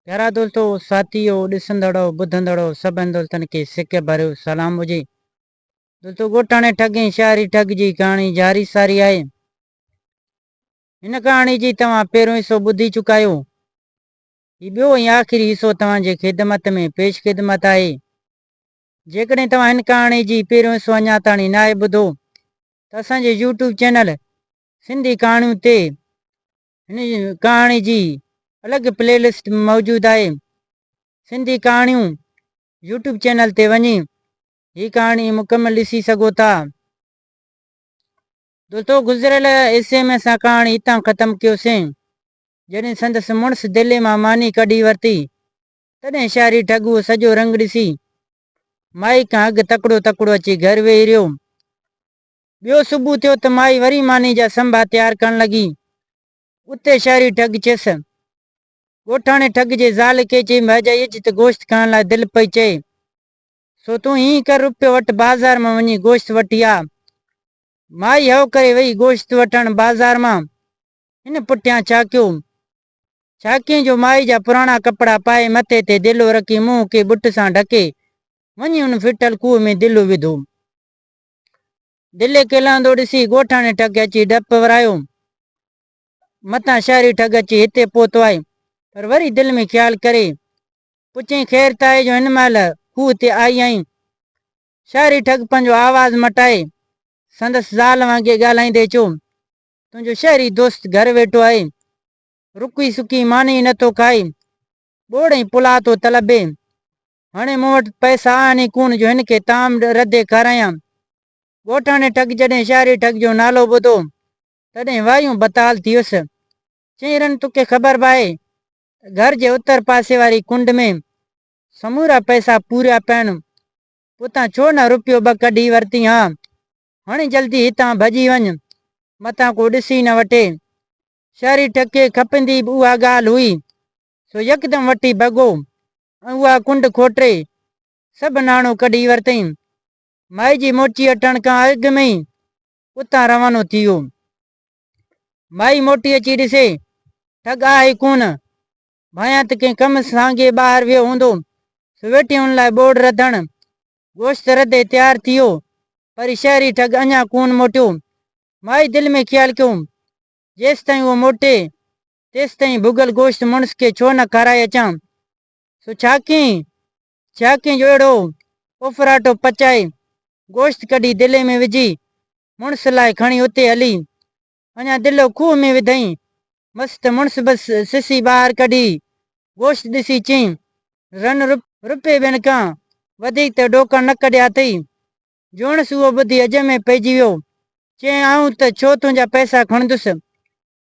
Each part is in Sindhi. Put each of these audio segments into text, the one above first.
پيارا دوستو، ساٿيو، ڏسندڙو، ٻڌندڙو سڀن دوستن کي سڪ ڀريو سلام هجي. دوستو ڳوٺاڻي ٺڳ ۽ شاعري ٺڳ جي ڪهاڻي جاري ساري آهي. هن ڪهاڻي جي توهان پهريون حصو ٻڌي چڪا آهيو. هي ٻيو ۽ آخري حصو توهان جي خدمت ۾ پيش خدمت آهي. جيڪڏهن توهان هن ڪهاڻي جي پهريون حصو اڃا تاڻي ناهي ٻڌو ته اسان جي يوٽيوب چينل سنڌي ڪهاڻيون تي هن ڪهاڻي جي الڳ پلي لسٽ موجود آهي. سنڌي ڪهاڻيون يوٽيوب چينل تي وڃي هي ڪهاڻي مڪمل ڏسي سگهو ٿا. دوستو گذريل حصي ۾ اسان ڪهاڻي هتان ختم ڪيوسين جڏهن سندس مڙس دلي مان ماني ڪڍي ورتي تڏهن شهري ٺڳوء سڄو رنگ ڏسي مائي کان اڳ تڪڙو تڪڙو اچي گهر ويهي رهيو ٻيو صبح ٿيو ته مائي وري ماني جا سنڀا تيار ڪرڻ لڳي. اتي شهري ٺڳ چيس. ڳوٺاڻي ٺڳ جي زال کي چئي مهجائي اچ ته گوشت کائڻ لاء دل پئي چئي. سو تون ائين ڪر روپيو وٺ بازار مان وڃي گوشت وٺي آ. مائي هو ڪري وئي گوشت وٺڻ بازار مان. هن پٺيان ڇاڪيو. ڇاڪيئين جو مائي جا پراڻا ڪپڙا پائي مٿي تي ديلو رکي منهن کي ٻٽ سان ڍڪي وڃي ان ڦٽل کوهه ۾ ديلو وڌو. دلي کلندو ڏسي ڳوٺاڻي ٺڳ اچي ڊپ ورايو. متان شهري ٺڳ اچي هتي پهتو آهي. پر وري دل ۾ خيال ڪري پڇيائين خير ته آهي جو هن مهل کوهه تي آئي آهين. شهري ٺڳ پنهنجو آواز مٽائي سندس زال وانگي ڳالهائيندي چيو تنهنجو شهري دوست گهر ويٺو آهي. رکي سکي ماني ئي نٿو کائي. ٻوڙ ۽ پلاء ٿو طلبي. هاڻي مون وٽ پئسا آهن ئي ڪونه جو هن کي طعام ردي کارايان. ڳوٺاڻي ٺڳ جڏهن شهري ٺڳ جو نالو ٻڌو، تڏهن وايون بتال ٿي ويس. چيائين رن توکي خبر به آهي ته گهر جي اتر پاسي واري ڪنڊ ۾ سمورا پئسا پوريا پيا آهن، پوء تان ڇو نه روپيو ٻه ڪڍي ورتين ها. هاڻي جلدي هتان ڀڄي وڃ، متان ڪو ڏسي نه وٺي. شهري ٺڳ کي کپندي به اها ڳالهه هئي، سو يڪدم وٺي ڀڳو. ۽ اها ڪنڊ کوٽري سڀ ناڻو ڪڍي ورتئين. مائجي موٽي اٽڻ کان اڳ ۾ ئي اتان روانو ٿي ويو. مائي موٽي اچي ڏسي ٺڳ آهي ڪونه، ڀانيان ته ڪنهن ڪم سانگي ٻاهر ويو هوندو، سويٽي ان لاء ٻوڙ رڌڻ، گوشت رڌي تيار ٿي ويو، پر شهري ٺڳ اڃا ڪونه موٽيو. مائي دل ۾ خيال ڪيو، جيستائين اهو موٽي، تيستائين ڀڳل گوشت مڙس کي ڇو نه کارائي اچان؟ سو ڇاڪين ڇاڪين جو اهڙو ڦڦراٽو پچائي گوشت ڪڍي دلي ۾ وجهي مڙس لاء کڻي اتي هلي اڃا دلو کوهه ۾ وڌئين مس ته مڙس به سسي ٻاهر ڪڍي گوشت ڏسي چين، رن رپئي ٻين کان وڌيڪ ته ڏوڪڻ نه ڪڍيا اٿئي. جوڻس اهو ٻڌي اجهه ۾ پئجي ويو. چيائين، آئون ته ڇو تنهنجا پئسا کڻندس.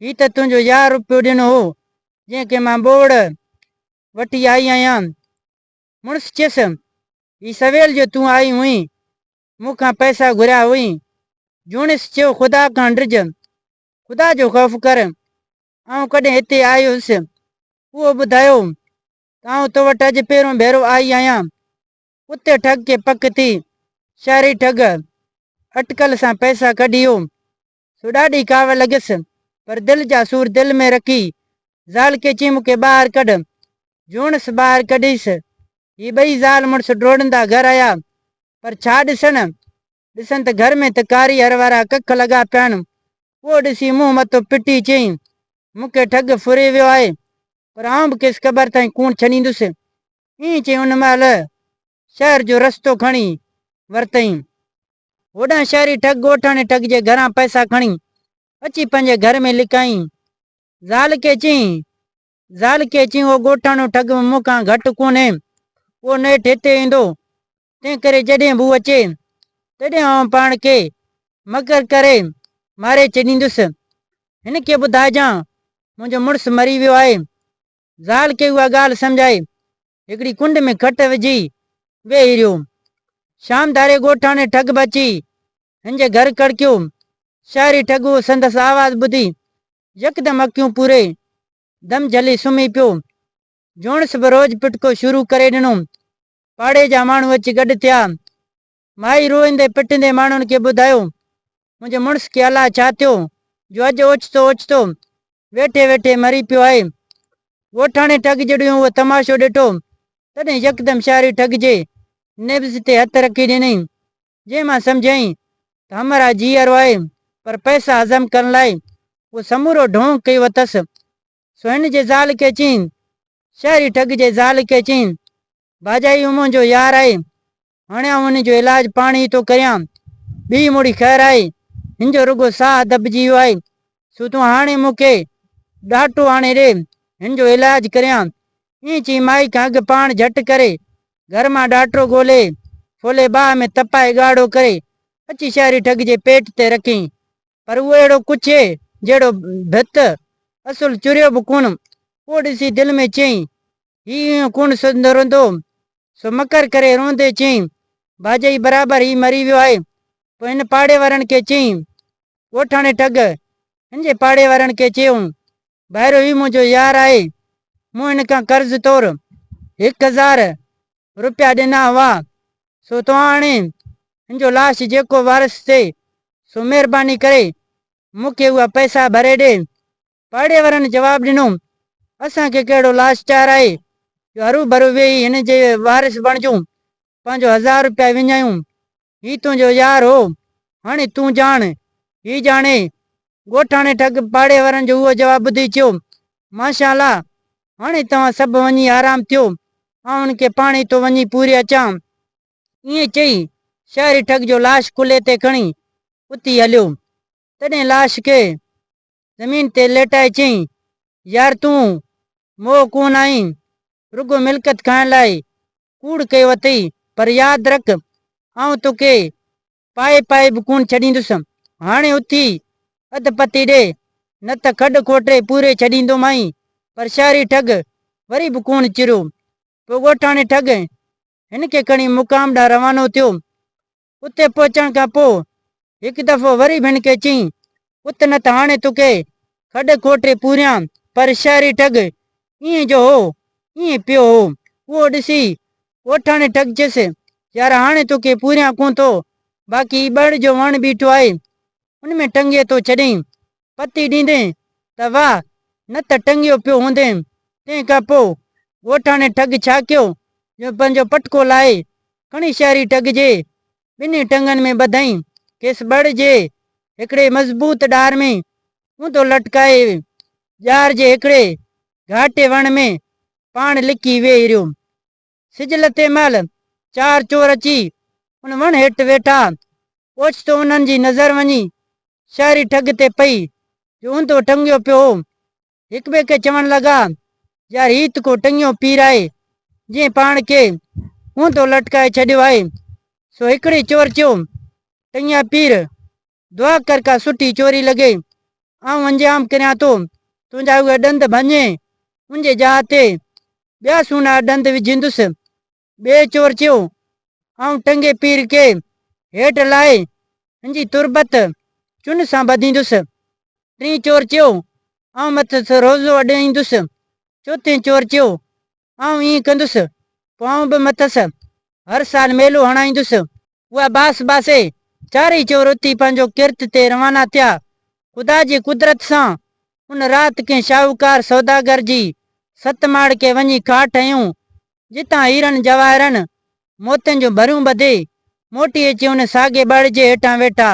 هي ته تنهنجو يار روپيو ڏنو هو، جنهن کي مان ٻوڙ وٺي آئي آهيان. مڙس چيس، هي سويل جو تون آئي هئين، مون کان پئسا گهريا هئين. جوڻيس چيو، خدا کان ڊڄ، خدا جو خوف ڪر، آئون ڪڏهن هتي آيو هيس، اهو ٻڌايو ته آئون تو وٽ اڄ پهريون ڀيرو آئي آهيان. ڪتي ٺڳ کي پڪ ٿي، شهري ٺڳ اٽڪل سان پئسا ڪڍيو، سوڍا ڏي ڪاوڙ لڳس، پر دل جا سور دل ۾ رکي، زال کي چيم مون کي ٻاهر ڪڍ. جوڻس ٻاهر ڪڍيس. هي ٻئي زال مڙس ڊوڙندا گهر آيا، پر ڇا ڏسن؟ ڏسن ته گهر ۾ ته ڪاري هر وارا ڪک لڳا پيا آهن. اهو ڏسي منهن مٿو پٽي چيائين، مون کي ٺڳ ڦري ويو آهي، پر آئون به کيس قبر تائين ڪونه ڇڏيندس. ائين چئي ان مهل شهر جو رستو کڻي ورتئين. هوڏانهن شهري ٺڳ ڳوٺاڻي ٺڳ جي گهران پئسا کڻي اچي پنهنجي گهر ۾ لڪائين. زال کي چيائين، زال کي چيائين اهو ڳوٺاڻو ٺڳ به مون کان گهٽ ڪونهي. اهو نيٺ هتي ايندو. تنهن ڪري جڏهن به هو اچي، تڏهن آئون پاڻ کي مڪر ڪري ماري ڇڏيندس. هن کي ٻڌائجان منهنجو مڙس مري ويو آهي. زال کي اها ڳالهه سمجهائي هڪڙي ڪنڊ ۾ کٽ وجهي ويهي رهيو. شام ڌاري ڳوٺاڻي ٺڳ به اچي هن جي گهر ڪڙڪيو. شهري ٺڳ اهو سندس آواز ٻڌي يڪدم اکيون پوري، دم جهلي سمهي پيو. جوڻس به روڄ پٽڪو شروع ڪري ڏنو. پاڙي جا ماڻهو اچي گڏ ٿيا. مائي روئندي پٽندي ماڻهن کي ٻڌايو، منهنجي مڙس کي الا ڇا ٿيو جو اڄ اوچتو اوچتو ويٺي ويٺي مري پيو آهي. ڳوٺاڻي ٺڳ جڏهيون اهو تماشو ڏٺو، تڏهن يڪدم شهري ٺڳ جي نبض تي هٿ رکي ڏنائين، جنهن مان سمجهيائين ته همراهه جي ارو آهي، پر پئسا هضم ڪرڻ لاء اهو سمورو ڍونگ ڪيو اٿس. سو هن جي زال کي چيائين، شهري ٺڳ جي زال کي چيائين، ڀاڄائي هو منهنجو يار آهي، هاڻي آئون هن جو علاج پاڻ ئي ٿو ڪريان. ٻيئي مڙي خير آهي. هن جو رڳو ساهه دٻجي ويو آهي. سو تون هاڻي مون کي ڏاٽو آڻي ڏي، هن جو علاج ڪريان. ائين چئي مائي کان اڳ پاڻ جهٽ ڪري گهر مان ڏاٽو ڳولي، ڦولي باهه ۾ تپائي ڳاڙهو ڪري اچي شهري ٺڳ جي پيٽ تي رکين. پر اهو اهڙو ڪڇي جهڙو ڀت، اصل چريو به ڪونه. اهو ڏسي دل ۾ چيائين، هي ايئن ڪونه سڌندو رهندو. سو مڪر ڪري روئندي چيائين، باجئي برابر هي مري ويو آهي. پوء هن پاڙي وارن کي چيائين، ڳوٺاڻي ٽڳ هن جي پاڙي وارن کي چيو، ڀائرو هي منهنجو يار آهي، مون هن کان قرض طور هڪ هزار روپيا ڏنا هئا، سو توهان آڻي هن جو لاش جيڪو وارث ٿئي، سو مهرباني ڪري مون کي اها پئسا ڀري ڏي. پاڙي وارن جواب ڏنو، اسان کي ڪهڙو لاشچار آهي جو هروڀرو ويهي هن جي وارث بڻجون، پنهنجو هزار روپيا وڃايون، هي تنهنجو يار هو، هاڻي تون ڄاڻ، هي ڄاڻي. ڳوٺاڻي ٺڳ پاڙي وارن جو اهو جواب ٻڌي چيو، ماشا الله، هاڻي توهان سڀ وڃي آرام ٿيو، آئون هن کي پاڻ ئي ٿو وڃي پوري اچان. ائين چئي شهري ٺڳ جو لاش ڪلهي تي کڻي اتي هليو. تڏهن لاش کي زمين تي ليٽائي چيائين، يار تون موهه ڪونه آهين، رڳو ملڪيت کائڻ لاء ڪوڙ ڪيو اٿئي، پر ياد رک آئون توکي پائي پائي به ڪونه ڇڏيندس، هاڻي اٿي اڌ پتي ڏي، نه ته کڏ کوٽري پوري ڇڏيندومانء. پر شهري ٺڳ وري به ڪونه چريو. پوء ڳوٺاڻي ٺڳ هن کي کڻي مقام ڏانهن روانو ٿيو. اتي پهچڻ کان پوء هڪ دفعو وري ڀڻ کي چيائين، پت نه ته هاڻي توکي کڏ کوٽي پوريان پر شهري ٺڳ ائين جو هو ائين پيو هو. اهو ڏسي ڳوٺاڻي ٺڳ چيس، يار هاڻي توکي پوريان ڪونه ٿو، باقي هي ٻهڙ جو وڻ بيٺو آهي، ان ۾ ٽنگي ٿو ڇڏين. پتي ڏيندين ته واهه، نه ته ٽنگيو پيو هوندين. تنهن کان پوء ڳوٺاڻي ٺڳ ڇا ڪيو جو پنهنجو پٽڪو لاهي کڻي شهري ٺڳ جي ٻنهي ٽنگن ۾ ٻڌائين. کيس ٻڙ جي هڪڙي مضبوط ڏار ۾ اونڌو لٽڪائي ڄار جي هڪڙي گهاٽي وڻ ۾ پاڻ لڪي ويهي رهيو. سج لٿي مهل، چار چور اچي ان وڻ هيٺ ويٺا. اوچتو انهن جي نظر وڃي شهري ٺڳ تي پئي، جو اونڌو ٽنگيو پيو هو. هڪٻئي کي چوڻ لڳا، يار هي ته ڪو ٽنگيو پير آهي، جنهن پاڻ کي اونڌو لٽڪائي ڇڏيو آهي. سو هڪڙي چور چيو، ٽنگيا پير، دعا ڪر ڪا سٺي چوري لڳي، آئون انجام ڪريان ٿو، تنهنجا اهي ڏند ڀڃي، ان جي جاء تي ٻيا سهڻا ڏند وجهيندس. ٻئي چور چيو، آئون ٽنگي پير کي هيٺ لاهي، ان جي تربت چن سان ٻڌيندس. ٽين چور چيو، آئون مٿس روزو اڏائيندس. چوٿين چور چيو، آئون ائين ڪندس، پوء آئون به مٿس هر سال ميلو هڻائيندس. اها باس باسي، چارئي چور اٿي پنهنجو ڪرت تي روانا ٿيا. خدا جي قدرت سان ان رات ڪنهن شاهوڪار سوداگر جي ست ماڙکي وڃي کاٽ هنيون، جتان هيرن جواهرن، موتين جون ڀريون ٻڌي، موٽي اچي ان ساڳئي ٻڙ جي هيٺان ويٺا.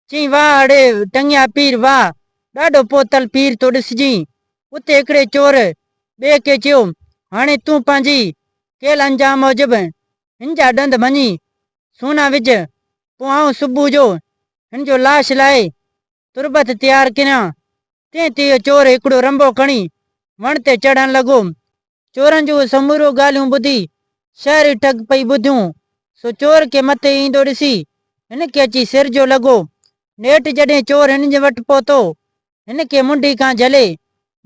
چيائين، واهه اڙي ٽنگيا پير، واهه! ڏاڍو پوتل پير ٿو ڏسجين. اتي هڪڙي چور ٻئي کي چيو، هاڻي تون پنهنجي ڪيل انجام موجب هن جا ڏند ڀڃي سونا وجهه، پوء آئون صبح جو هن جو لاش لاهي تربت تيار ڪريان. تنهن تي اهو چور هڪڙو رنبو کڻي وڻ تي چڙهڻ لڳو. چورن جون اهي سموريون ڳالهيون ٻڌي شهري ٺڳ پئي ٻڌيون، سو چور کي مٿي ايندو ڏسي هن کي اچي سر جو لڳو. نيٺ جڏهن چور هنن جي وٽ پهتو هن کي منڍي کان جهلي،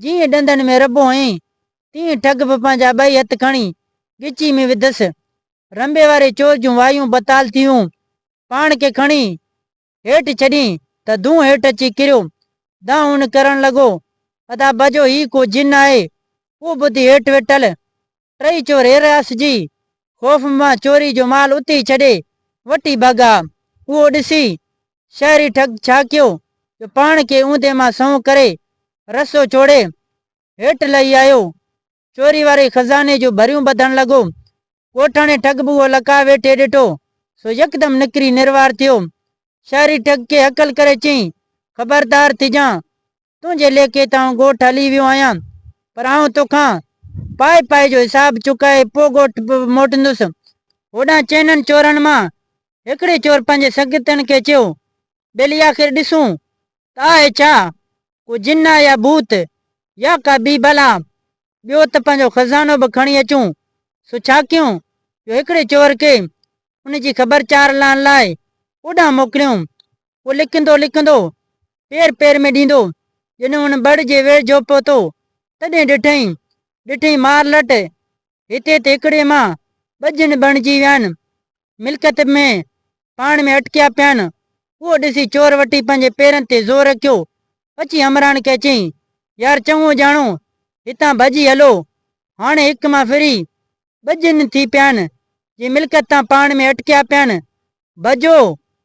جيئن ڏندن ۾ رٻو هنئي، تيئن ٺڳ به پنهنجا ٻئي هٿ کڻي ڳچي ۾ وڌس. رنبي واري چور جون وايون بتال ٿيون. پاڻ کي کڻي هيٺ ڇڏين ته دونهن هيٺ اچي ڪريو. دانهن هن ڪرڻ لڳو، ادا باجو هي ڪو جن آهي. اهو ٻڌي هيٺ ويٺل ٽئي چور هيرئاس جي خوف مان چوري جو مال اتي ئي ڇڏي وٽي ڀڳا. اهو ڏسي شهري ٺڳ ڇا ڪيو جو پاڻ کي اوندهه مان سنئون ڪري رسو ڇوڙي هيٺ لهي آيو. چوري واري خزاني جون ڀريون ٻڌڻ لڳو. ڳوٺاڻي ٺڳ به اهو لڪاء ويٺي ڏٺو سو يڪدم نڪري نروار ٿيو. شهري ٺڳ کي هڪل ڪري چيائين، خبردار ٿجان تنهنجي ليکي تان ڳوٺ هلي ويو آهيان، پر آئون توکان پائي پائي جو حساب چڪائي پوء ڳوٺ موٽندس. هوڏانهن چئنن چورن مان هڪڙي چور پنهنجي سنگتين کي چيو، ٻيلي آخر ڏسون ته آهي ڇا؟ ڪو جن آهي يا ڀوت يا ڪا ٻي بلا؟ ٻيو ته پنهنجو خزانو به کڻي اچون. سو ڇا ڪيون جو هڪڙي چور کي ان جي خبر چار لهڻ لاء اوڏانهن موڪليون. هو لڪندو لڪندو، پير پير ۾ ڏيندو، جڏهن هن ٻڙ جي ويجهو پهتو، تڏهن ڏٺئين، ڏٺئين مار لٽ، هتي ته هڪڙي مان ٻه جن بڻجي ويا آهن، ملڪيت ۾ پاڻ ۾ اٽڪيا پيا آهن، اهو ڏسي چور وٽي پنهنجي پيرن تي زور رکيو، اچي همراهن کي چيائين، يار چڱو ڄاڻو، هتان ڀڄي هلو، هاڻي هڪ مان ڦري، ٻجهن ٿي پيان، جي ملڪيت تان پاڻ ۾ اٽڪيا پيان، ڀڄو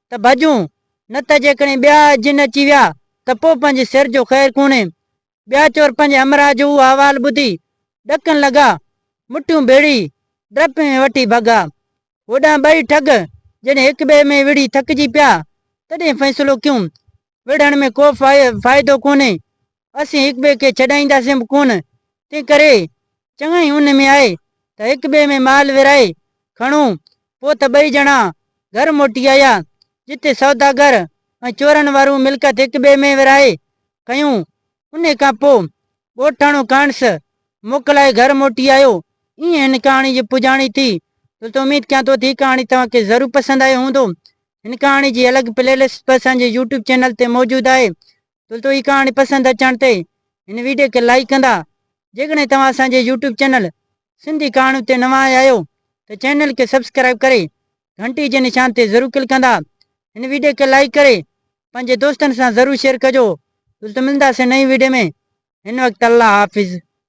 ته ڀڄون، نه ته جيڪڏهن ٻيا جن اچي ويا ته پوء پنهنجي سر جو خير ڪونهي. ٻيا چور پنهنجي همراهه جو اهو احوال ٻڌي ڏڪڻ لڳا، مٺيون ڀيڙي ڊپ ۾ وٺي ڀڳا. هوڏانهن ٻئي ٺڳ جڏهن هڪٻئي ۾ وڙهي ٿڪجي پيا، تڏهن فيصلو ڪيون وڙهڻ ۾ ڪو فائدو ڪونهي، اسين هڪ ٻئي کي ڇڏائينداسين به ڪونه، تنهن ڪري چڱائي ان ۾ آهي ته هڪ ٻئي ۾ مال ورهائي کڻو. پوء ته ٻئي ڄڻا گهر موٽي آيا، جتي سوداگر ۽ چورن وارون ملڪيت هڪ ٻئي ۾ ورهائي کنيون، انهيء کان پوء ڳوٺاڻو کانئس موڪلائي گهر موٽي آيو. ايئن هن ڪهاڻي جي پڄاڻي ٿي. دوستو اميد ڪيان ٿو ته هي ڪهاڻي توهان کي ضرور پسند آيو هوندو. هن ڪهاڻي جي الڳ پلي لسٽ به اسان جي يوٽيوب چينل تي موجود آهي. دوستو هي ڪهاڻي پسند اچڻ تي هن ويڊيو کي لائيڪ ڪندا. جيڪڏهن توهان اسان جي يوٽيوب چينل سنڌي ڪهاڻيون تي نوان آيا آهيو ته چينل کي سبسڪرائيب ڪري گهنٽي جي نشان تي ضرور ڪلڪ ڪندا هن ويڊيو کي لائيڪ ڪري پنهنجي دوستن سان ضرور شيئر ڪجو دوستو ملنداسين نئين ويڊيو ۾ هن وقت الله حافظ.